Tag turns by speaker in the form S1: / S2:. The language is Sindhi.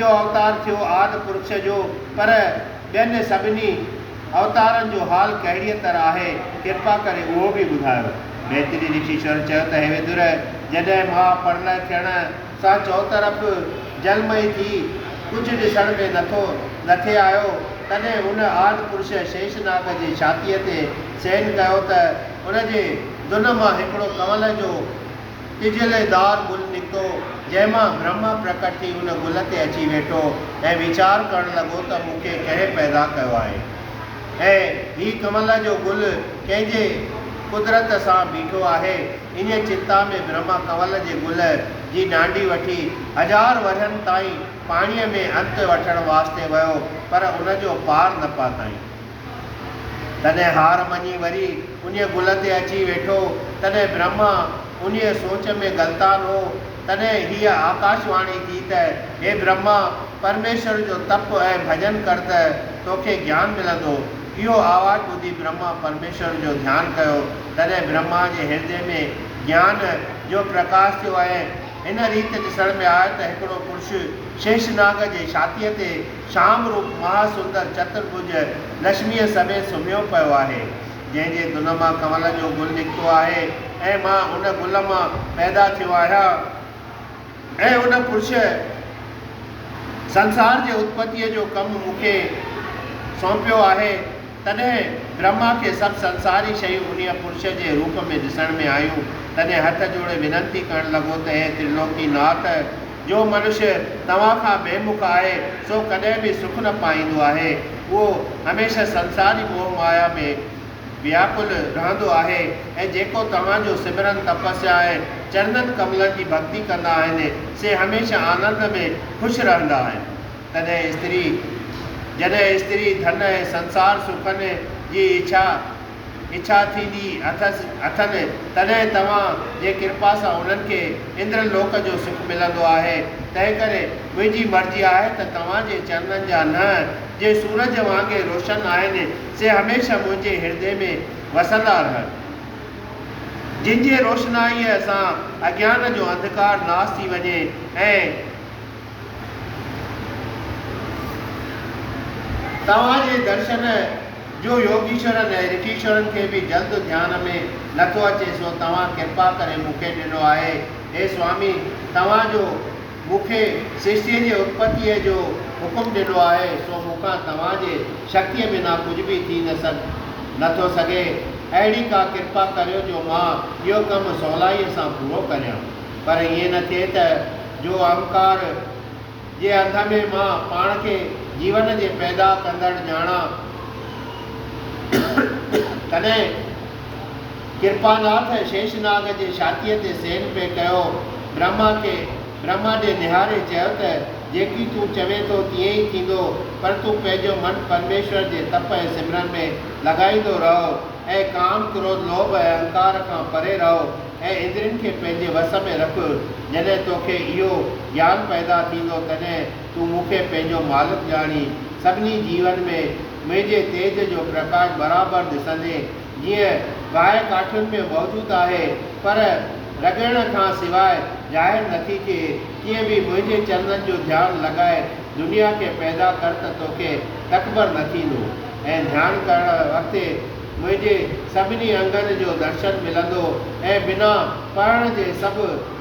S1: اهو اوتار ٿيو آد پرڇ جو، پر ٻين سڀني اوتارن جو حال ڪهڙيء طرح آهي، ڪرپا ڪري اهو به ٻڌايو. ميتري رشيشور چيو ته هي ويدر، جڏهن ماء پرلئه ٿيڻ سان چؤطرف جلمئي ٿي، ڪجهه ڏسڻ ۾ نٿو نٿي آيو، تڏهن هن آد پرڇ شيشناگ جي ڇاتيء تي سين ڪيو ته ان جي دن مان هڪڙو ڪنول جو، ٽجهيل دار گل نڪتو، جنهن مان برهما پرڪٽ ٿي ان گل تي اچي ويٺو ۽ ويچار ڪرڻ لڳو ته مون کي ڪنهن پيدا ڪيو آهي ۽ هي ڪمل جو گل ڪنهن جي قدرت سان بيٺو آهي. انهيء چنتا ۾ برهما ڪنول جي گل جي ڏانڊي وٺي هزار ورهين تائين پاڻيء ۾ انت وٺڻ واسطي ويو پر ان جو پار نه پاتائين. تڏهن هار مڃي وري انهيء گل تي اچي ويٺو. تڏهن برهما انهيء سوچ ۾ غلطان هو. تڏهن هيء آڪاش واڻي ٿي ته، هي برهما! پرميشور جو تپ ۽ ڀڄن ڪر ته توکي گيان ملندو. اهو آواز ٻڌي برهما پرميشور جو ڌيان ڪيو. تڏهن برهما جي هردي ۾ گيان جو پرڪاش ٿيو ۽ هن ريت ڏسڻ ۾ آيو ته هڪڙو پرش شيشناگ جي ڇاتيء تي شام روپ مهاسندر چترڀج لشميء سميت سمهيو پيو آهي، جنهن جي دن مان ڪنول جو گل نڪتو آهي ۽ مان ان گل مان پيدا ٿيو آهيان ۽ ان پرش سنسار جي اتپتيء جو ڪم مون کي سونپيو آهي، تڏهن برهما کي سڀ سنساري شيون انهيء پرش جي روپ ۾ ڏسڻ ۾ آيون، تڏهن هٿ جوڙي وننتي ڪرڻ لڳو ته هي ترلوڪي ناٿ! جو منشي توهان کان بي مک آهي، سو ڪڏهن به سک نه پائيندو آهي. اهو هميشه سنساري موهه مايا ۾ وياڪل رهندو آهي ۽ جيڪو توهان جو سمرن، تپسيا ۽ چرنن ڪملن جي ڀڳتي ڪندا آهن، سي هميشه آنند ۾ خوش رهندا آهن. تڏهن استري، جڏهن استري ڌن ۽ سنسار سکن جي اڇا، اڇا ٿيندي اٿس اٿن، تڏهن توهان جي ڪرپا سان انهن کي اندر لوڪ جو سک ملندو آهي، تنهنڪري منهنجي مرضي آهي ته توهان جي چرنن جا ننهن، جي سورج وانگي روشن آهن، سي هميشه منهنجي هردي ۾ وسندا رهن، جن جي روشنائيء سان اگيان جو انڌڪار ناس ٿي وڃي ۽. توهان جي درشن. جو يوگيشورن ۽ رشيشورن کي به جلد ڌيان ۾ نٿو اچي سو توهان ڪرپا ڪري مون کي ڏنو آهي. هي سوامي! توهان جو مون کي سرشتيء جي اتپتيء جو حڪم ڏنو آهي سو مون کان توهان جي شڪتيء بنا ڪجهه به ٿي نه سگهي نٿو سگهي. اهڙي ڪا ڪرپا ڪريو جو مان اهو ڪم سولائيء سان پورو ڪريان. پر ائين نه ٿئي ته جو اهنڪار، جي هنڌ ۾ مان پاڻ کي جيون جي پيدا ڪندڙ ڄاڻان، تڏهن ڪرپاناٿ شيشناگ جي ڇاتيء تي سين پئي ڪيو. برهما کي برهما ڏي نهاري چيو ته، جيڪي تون چوين ٿو تيئن ئي ٿيندو، پر تون پنهنجو من پرميشور جي تپ ۽ سمرن ۾ لڳائيندو رهو ۽ ڪام، ڪروڌ، لوڀ ۽ اهنڪار کان پري رهو. ۽ اندرين کي پنهنجي وس ۾ رک، جڏهن تو کي اهو گيان پيدا ٿيندو تڏهن تون مون کي پنهنجو مالڪ ڄاڻي، سڀني جيون ۾ منهنجي تيج جو پرڪاش برابر ڏسندين، جيئن باهه ڪاٺين ۾ موجود آهي، پر رڳڻ کان سواء ظاهر نٿي ٿئي، تيئن به منهنجي چرنن جو ڌيان لڳائي دنيا کي پيدا ڪر ته توکي تڪبر نه ٿيندو، ۽ ڌيان ڪرڻ وقت منهنجي سڀني انگن جو درشن ملندو ۽ بنا پڙهڻ جي سڀ